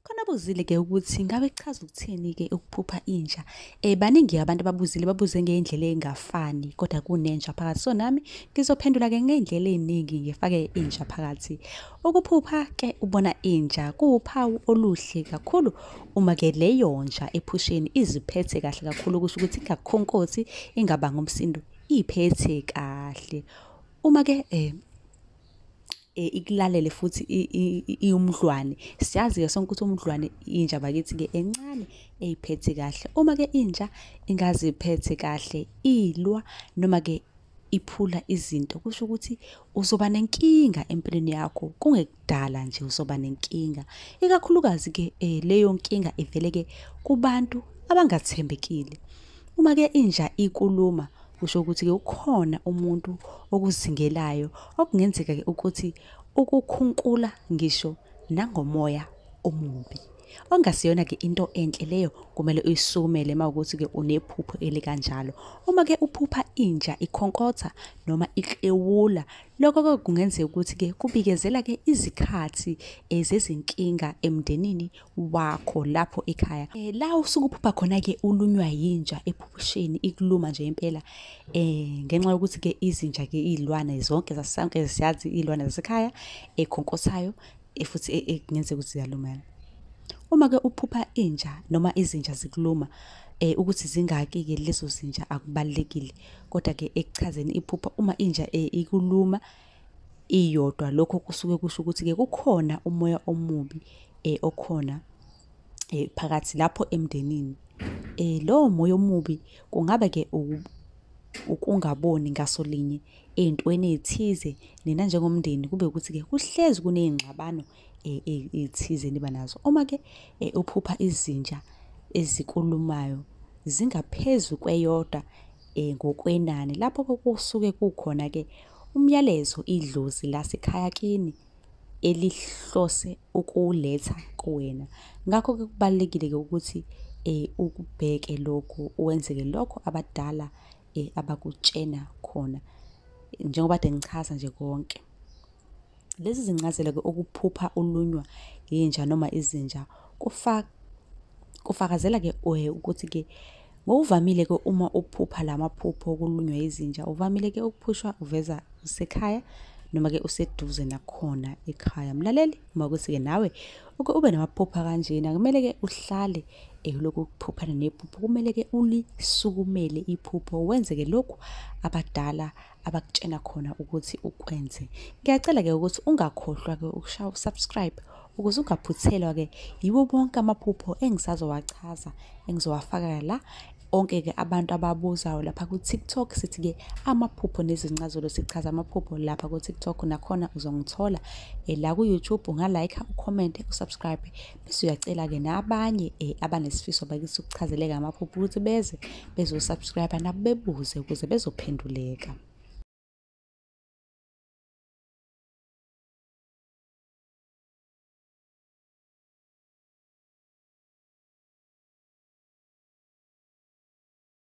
Khona buzile ke ukuthi ngabe kuchaza ukuthini ke ukuphupha inja. Eh baningi abantu ababuzile babuze ngeindlela engafani kodwa kunenja phakathi. So nami ngizophendula ke ngeindlela eziningi ngifake inja phakathi. Ukuphupha ke ubona inja kuwuphawu oluhle kakhulu uma ke leyo nja ephusheni iziphethe kahle kakhulu kusho ukuthi ingakhonkothi ingabanga umsindo iphethe kahle. Uma ke eh eh, ikulalele futhi iwumdlwane siyazi ke sonke ukuthi umdlwane inja bakithi ke encane eyiphethe kahle uma ke inja ingaziphethe kahle ilwa noma ke iphula izinto kusho ukuthi uzoba nenkinga empilweni yakho kungekudala nje uzoba nenkinga ikakhulukazi ke eh, leyo nkinga ivele ke kubantu abangathembekile Uma ke inja ikuluma kusho ukuthi ke ukhona umuntu okuzingelayo okungenzeka ke ukuthi ukukhunkula ngisho nangomoya omubi. Ongasiyona ke into enhle leyo kumele uyisumele mawukuthi ke unephupho elikanjalo. Uma ke uphupha inja ikhonkotha noma iklewula lokho ke kungenzeka ukuthi ke kubikezela ke izikhathi ezezinkinga emndenini wakho lapho ekhaya e, la usuke uphupha khona-ke ulunywa yinja ephusheni ikuluma nje impela um ngenxa yokuthi-ke izinja-ke iy'lwane zonke zasonke siyazi iy'lwane zasekhaya ekhonkothayo e, futhi e, kungenzeka ukuthi ziyalumela uma-ke uphupha inja noma izinja zikuluma eh ukuthi zingaki ke lezo zinja akubalekile kodwa ke ekuchazeni iphupha uma inja eh, ikuluma iyodwa lokho kusuke kusho ukuthi ke kukhona umoya omubi eh okhona eh phakathi lapho emndenini eh lowo moya omubi kungaba ke ukungaboni ngaso linye ey'ntweni ey'thize nina njengomndeni kube ukuthi-ke kuhlezi kuney'ngxabano eh, eh, ey'thize niba nazo uma-ke eh, uphupha izinja ezikulumayo zingaphezu kweyodwa eh ngokwenani lapho kokusuke kukhona ke umyalezo idlozi lasekhaya kini elihlose ukuletha kuwena ngakho ke kubalekile ke ukuthi eh ukubheke lokho wenzeke lokho abadala eh abakutshena khona njengoba de ngichaza nje konke Lezi zincazelo-ke okuphupha ulunywa yinja noma izinja kufakazela-ke eh, ukuthi-ke ngokuvamile-ke uma uphupha la maphupho okulunywa yizinja uvamile-ke ukuphushwa uveza usekhaya noma-ke useduze nakhona ekhaya mlaleli uma ukuthi-ke nawe uke ube namaphupha kanjena kumele-ke uhlale elokhu ukuphuphana nephupho kumele-ke ulisukumele iphupho wenze-ke lokhu abadala abakutshena khona ukuthi ukwenze ngiyacela ke ukuthi ungakhohlwa ke ukushaya usubscribe ukuze ungaphuthelwa ke yiwo bonke amaphupho engisazowachaza engizowafaka la onke ke abantu ababuzayo lapha ku TikTok sithi ke amaphupho nezincazelo sichaza amaphupho lapha ku TikTok nakhona uzongithola eh, la ku YouTube unga like ucomment usubscribe siyacela-ke nabanye um abanesifiso bakithi ukuchazeleka amaphupho ukuthi beze bezosubscribe nabo bebuze ukuze bezophenduleka